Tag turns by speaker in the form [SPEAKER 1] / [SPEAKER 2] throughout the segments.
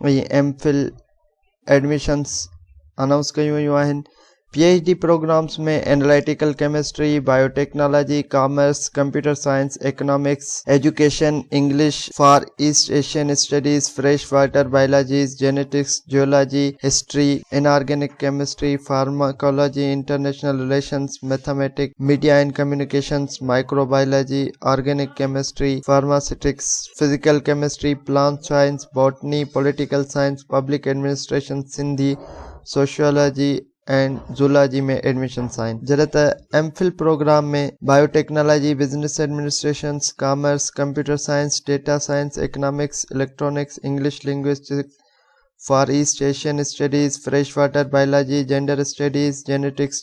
[SPEAKER 1] ۽ M phil admissions announce ڪيون ويون آهن P H D programmes ۾ analytical chemistry, biotechnology, commerce, computer science, economics, education, English for east Asian studies, fresh water biologies, genetics, geology, history, inorganic chemistry, pharmacology, international relations, mathematics, media and communications, microbiology, organic chemistry, pharmaceutics, physical chemistry, plant science, botany, political science, public administration, Sindhi, sociology ۽ zoology ۾ admissions آهن، جڏهن ته M full programme ۾ biotechnology, business administration, commerce, computer science, data science, economics, electronics, English linguistics, for east Asian studies, fresh water biology, gender studies, genetics,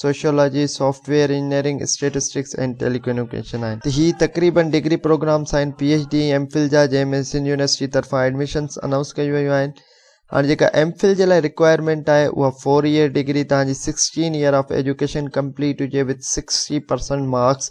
[SPEAKER 1] sociology, software engineering, statistics ۽ telecommunication آهن. هي تقريبن degree programmes آهن، P H D ۽ M full جا، جنهن ۾ Sindh university طرفان admissions announce ڪيون ويون آهن. هاڻ جيڪا ايم فل جي لاء رڪوائرمينٽ آهي اها فور يئر ڊگري توهان جي sixteen year of education complete هجي with sixty percent marks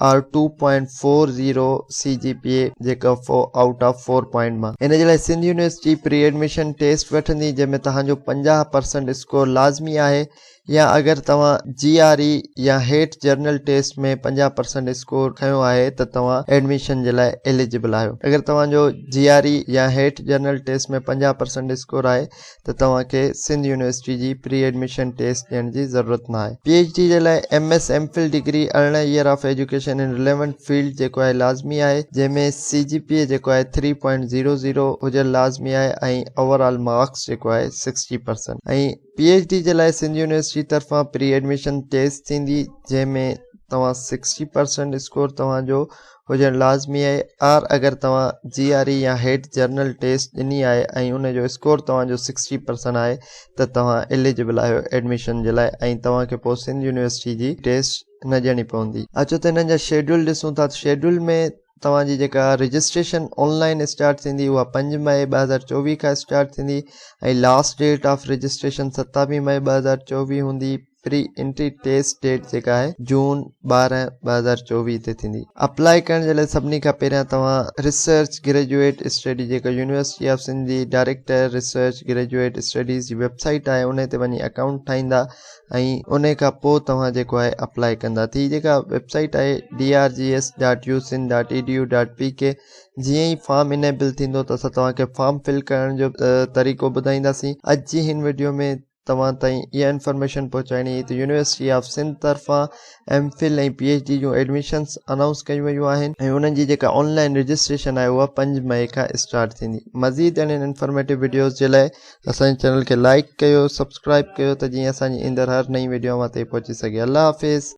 [SPEAKER 1] or two point four zero C G P A جيڪا four out of four point مان ان جي لاء Sindh university pre admission test وٺندي جنهن ۾ توهان جو پنجاهه پرسنٽ اسڪور لازمي آهي. يا اگر توهان جي آر اي يا هيٺ جرنل ٽيسٽ ۾ پنجاهه پرسنٽ اسڪور کنيو آهي ته توهان ايڊميشن جي لاء ايليجبل آهيو. اگر توهان جو جي آر اي يا هيٺ جرنل ٽيسٽ ۾ پنجاهه پرسنٽ اسڪور آهي ته توهان کي سنڌ يونيورسٽي جي پري ايڊميشن ٽيسٽ ڏيڻ جي ضرورت نه آهي. پي ايڇ ڊي جي لاء M S M phil degree ارڙهن year of education in relevant field جيڪو آهي لازمي آهي جنهن ۾ سي جي پي اي جيڪو آهي ٿري پوائنٽ زيرو زيرو هجڻ لازمي آهي ۽ اوور آل مارڪس جيڪو آهي sixty percent ۽ P H D جي لاء سنڌ يونيورسٽي طرفان پري ايڊميشن ٽيسٽ ٿيندي جنهن ۾ توهان سڪسٽي پرسينٽ اسڪور توهان جو هجڻ لازمي آهي آر اگر توهان جي آر اي يا هيڊ جرنل ٽيسٽ ڏني آهي ۽ ان جو اسڪور توهان جو سڪسٽي پرسينٽ آهي ته توهان ايليجبل آهيو ايڊميشن جي لاء ۽ توهان کي پوء سنڌ يونيورسٽي جي ٽيسٽ نه ڏيڻي پوندي. اچو ته هنن جا شيڊيول ڏسون ٿا ته شيڊيول ۾ توهان جي جيڪا رجسٽريشن آن لائن اسٽارٽ ٿيندي اها پنج مئي ٻه هزار چوويهه کان اسٽارٽ ٿيندي ۽ لاسٽ ڊيٽ آف رجسٽريشن ستاويهه مئي ٻه هزار چوويهه هوندي پري انٽري ٽيسٽ ڊيٽ جيڪا آهي جون ٻارهن ٻه هزار چوويهه تي ٿيندي اپلاء ڪرڻ جي لاء سڀني کان پهريان توهان ريسرچ گريجويٽ اسٽڊي جيڪا يونيورسٽي آف سنڌ جي ڊائريڪٽر ريسرچ گريجويٽ اسٽڊيز جي ويب سائيٽ آهي ان تي وڃي اڪائونٽ ٺاهيندا ۽ ان کان پوء توهان جيڪو آهي اپلائي ڪندا ٿي جيڪا ويبسائيٽ آهي D R G S dot U Sindh dot E D U dot P K جيئن ئي فارم انيبل ٿيندو ته اسان توهان کي فارم فل ڪرڻ جو طريقو ٻڌائينداسين اڄ جي هن ويڊيو ۾ توهان تائين اها انفارميشن پهچائڻي هئي ته يونيورسٽي آف سنڌ طرفان M phil ۽ P H D جون ايڊمشنس انائونس ڪيون ويون آهن ۽ انهن جي جيڪا آن لائن رجسٽريشن آهي اها پنج مئي کان اسٽارٽ ٿيندي مزيد اهڙين انفارميٽو وڊيوز جي لاء اسان جي چينل کي لائڪ ڪيو سبسڪرائب ڪيو ته جيئن اسان جي ايندڙ هر نئين وڊيو اوهان تائين پهچي سگهي الله حافظ